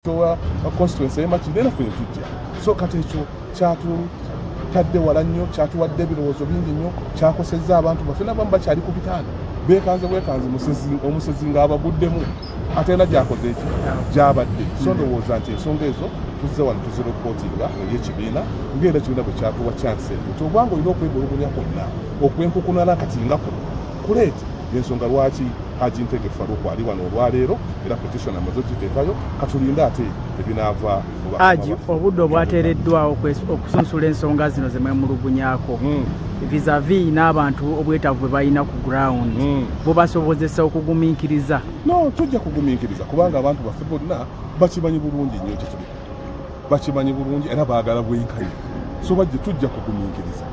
towa constituency yemakiri naye naffe yetujja so kati ekyo kyatutadde wala nnyo kyatuwadde ebirowoozo bingi nnyo kyakosezza abantu baffe nabamu bakyali ku bitanda bekanze bwekanze omusezi nga abaguddemu ate era gyakoze eki gyabadde so ndowooza nti ensonga ezo tuzze wano tuziropotinga eri ekibiina ngaera ekibiina bwe kyatuwa kyansi nti obanga olina okwegulugunya kwonna okwenkukunana kati nga kuno kuleeti yensonga lwaki Haji Ntege Faruku ali wano olwaleero era petition amaze okiteekayo katulinde ate ebinaava Haji obudde obwateereddwawo okusunsula ensonga zino ze mwemulugunyako hmm. visavi n'abantu obwetaavu bwe balina ku ground hmm. bubasobozesa okugumiikiriza no tujja kugumiikiriza kubanga abantu baffe bonna bakimanyi bulungi nnyo kyetuli bakimanyi bulungi era baagala bwenkanya so bajje tujja kugumiikiriza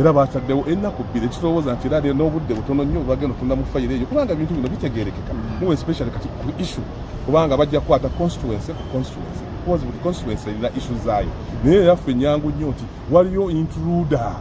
era baataddewo ennaku bbiri ekitowooza nti era n'obudde butono nnyo bagenda otunda mu fayiro eyo kubanga ebintu bino bitegerekeka muwe especially kati ku issue kubanga bajja kukwata constituency ku constituency because buli constituency erina issue zaayo naye era ffe nyangu nnyo nti waliyo intruder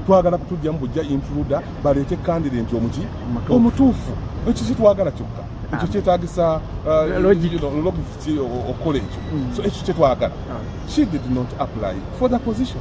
twagala kutujjamu bujja intruder baleete candident omuki omutuufu ekyo kitwagala kyokka ekyo kyetagisa uh, logic okola ekyo mm. so ekyo kyetwagala ah. she did not apply for the position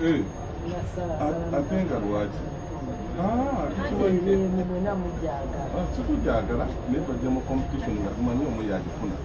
Hey. atenga lwaki sikujagala naye tojja mu competition nga tumanyi omu yagifuna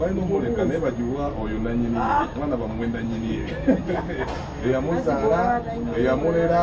balina omuleka naye bagiwa oyo nanyini mwana bamwe nanyini eyamuzaala eyamulera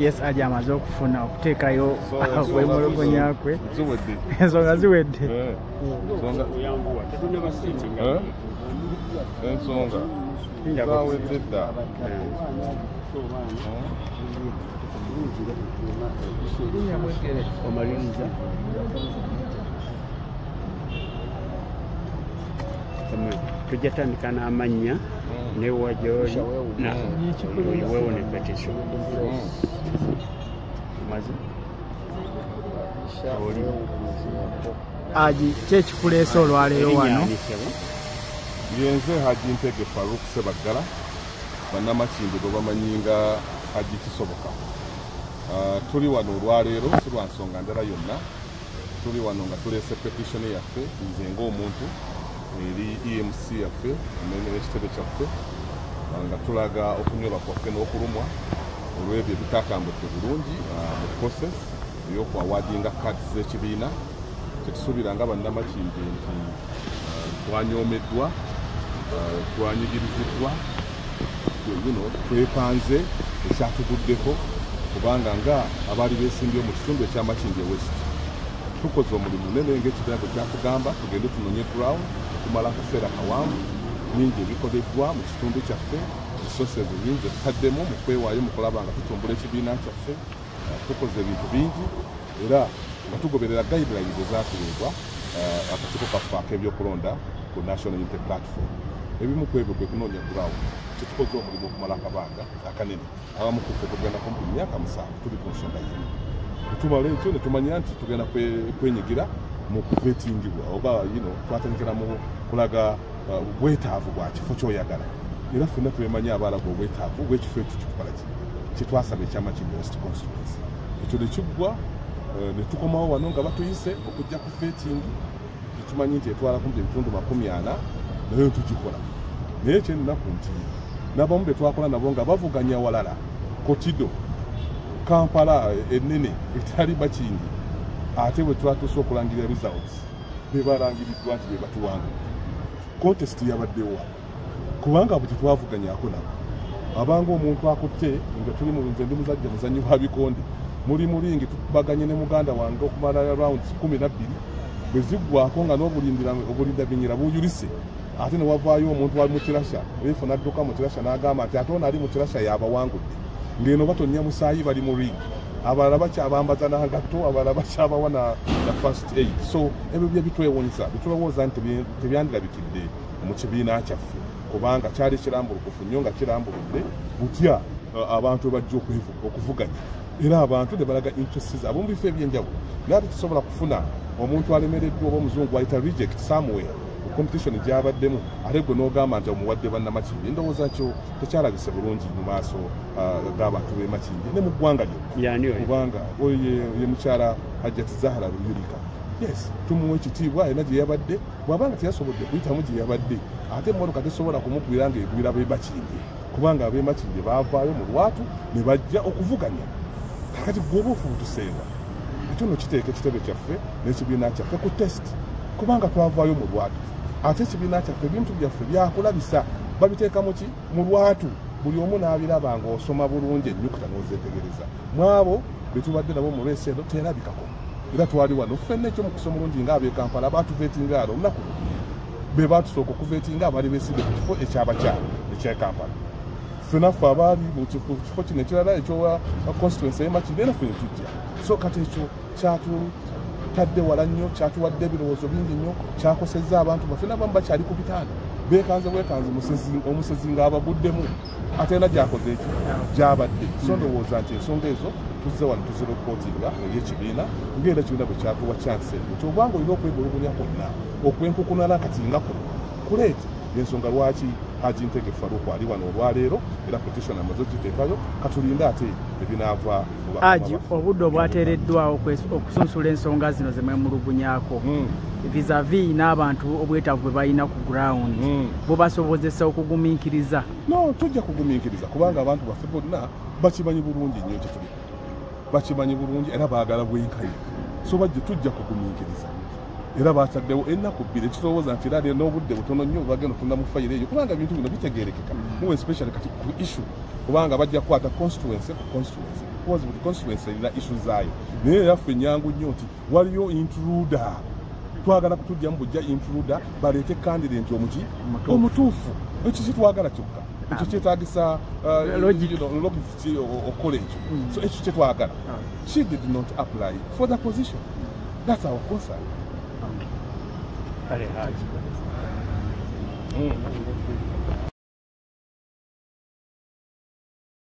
yes aja amaze okufuna okuteekayo wemulugunya kwe ensonga ziwedde eh. eh? ensonga zawedde dda omaliriza tujja tandika n'amannya mm. newa gyoli wewo ne petition mazi oli aji kyekikuleesa olwaleero wano yenze haji ntege faruk sebaggala banamakindi gwe bamanyi nga haji kisoboka ah, tuli wano olwaleero si lwa nsonga ndala yonna tuli wano nga tuleese petitioni yaffe nze ngaomuntu eri emc yaffe nekitebe kyaffe ah, nga tulaga okunyoba kwaffe n'okulumwa olw'ebyo ebitatambudde bulungi ah, mu process eyokuawadinga kad z'ekibiina kyetusuubira nga bannamakindi nti ah, twanyomeddwa twanyigiriziddwa bino twepanze ekyatuguddeko kubanga nga abaali besimbye mu kitundu ekyamakindye west tukoze omulimu nene ngaekibiina bwe kyatugamba tugende tunonye ground okumala akaseera kawanvu bingi ebikoleddwa mu kitundu kyaffe esosi ezo nyingi ezitaddemu mu kwewaayo mu kulaba nga tutumbula ekibiina kyaffe tukoze ebintu bingi era nga tugoberera guidelines ezatuweebwa eh, akakiiko kaffe ak'ebyokulonda ku national unity platform ebimu ku ebyo kwe kunoonya ground kyetukoze omulimu okumala akabanga akanene abamu kuffe tugenda kumpi myaka musanvu tuli ku nsonga yino tumala ekyo ne tumanya nti tugenda kwenyigira mu kuvetingibwa oba yino twatandikira mu kulaga eh, bwetaavu bwa kifo kyoyagala era fenna twemanyi abaalaga obwetaavu bwekifo ekyo kitukola ki kyetwasaba ekyama kino west constituency ekyo ne kiggwa eh, ne tukomawo wano nga batuyise okujja ku feetingi tukimanyi nti etwala kumpi ebitundu makumi ana naye netugikola naye kyennaku nti nabamu betwakola nabo nga bavuganya walala kotido kampala eh, enene etali bakingi ate bwetwatuuse okulangirira results bebalangiriddwa nti bebatuwanga contest yabaddewa kubanga bwe tetwavuganyako nabo abanga omuntu akutte nga tuli mu nze ndi muzajja muzanyi wa bikonde muli mulingi tubaganye ne muganda wange okumala round kumi nabbiri bwe ziggwako nga n'obulindabinyira buyulise ate ne wavaayo omuntu wali mu kirasha efu n'adduka mu kirasha n'agamba nti ate ono ali mu kirasha yaabawangudde ng'eno batonnya musaayi bali mu ringi abalala bakyabambaza nangatto abalala bakyabawa na first aid so ebyo bye bitwewunyisa bitulowooza nti tebyandirabikidde mu kibiina kyaffe kubanga kyali kirambulukufu nnyo nga kirambuludde butya uh, abantu bajja okuvuganya era abantu ne balaga interests ab'omu bifo ebyenjawulo naye ate tusobola kufuna omuntu alemereddwa oba omuzungu ayita reject somewhere competition gyabaddemu ate gwe n'ogamba nti omuwadde bannamakindi endowooza kyo tekyalabise bulungi mu maaso uh, g'abantu b'emakindi ne mu ggwanga lyo kubanga oyo ye mukyala hajjati zahara luyulika yes tumuwa ekitiibwa alina gye yabadde bwaba nga teyasobodde kuyitamu gye yabadde ate emmotoka tesobola kumugwira nga egwira bemakindye kubanga abemakindye baavaayo mu lwatu ne bajja okuvuganya kakati gwoba ofuutuseewa ekyo no kiteeka ekitebe kyaffe n'ekibiina kyaffe ku test kubanga twavaayo mu lwatu ate ekibiina kyaffe ebintu byaffe byakulabisa babiteeka muki mu lwatu buli omu n'abiraba ng'osoma bulungi ennyukuta n'ozeetegereza mwabo betubadde nabo mu lwesi eno terabikako era twali wano ffenna ekyo mukisa omulungi nga abekampala batuvetinga alo olunaku be batusooka okuvetinga abali besidde ku kifo ekyabakyala ekyekampala fenaffe abaali mu kifo kino ekirala ekyowa constituency emakiri era ffe netujja so kati ekyo kyatu tadde wala nnyo kyatuwadde ebirowoozo bingi nnyo kyakosezza abantu baffe nabamu bakyali ku bitanda bekanze bwekanze omusezi ngaabaguddemu atalina gyakoze ekyo gyabadde so ndowooza nti ensonga ezo tuzze wano tuzira okukotinga eri ekibiina ngaera kibiina bwe kyatuwa kyansi eyo nti obwanga olina okwegologolya kwonna okwenkukunala kati nga kuno kuleeti yensonga lwaki haji ntege faruku ali wano olwaleero era petitiona amaze okiteekayo katulinde ate ebinaava aji obudde obwateereddwawo okusunsula ensonga zino zemwemulugunyako hmm. visavi n'abantu obwetaavu bwe balina ku ground hmm. bubasobozesa okugumiikiriza no tujja kugumiikiriza kubanga abantu baffe bonna bakimanyi bulungi nnyo kituli bakimanyi bulungi era baagala bwenkayi so bajje tujja kugumiikiriza era bakyaddewo ennaku bbiri ekirowooza nti era n'obudde butono nnyo bagenda otundamu fayiro eyo kubanga ebintu bino bitegeerekeka muwe especially kati ku issue kubanga bajja kukwata constituency constituency because buli constituency erina issue zaayo naye era ffe nyangu nnyo nti waliyo intruder twagala kutujjamu bujja intruder baleete candident omuki omutuufu ekyo kitwagala kyokka ekyo kyetagisa uh, logic okukola ekyo mm. so ekyo kyetwagala ah. she did not apply for the position that's our concern mm.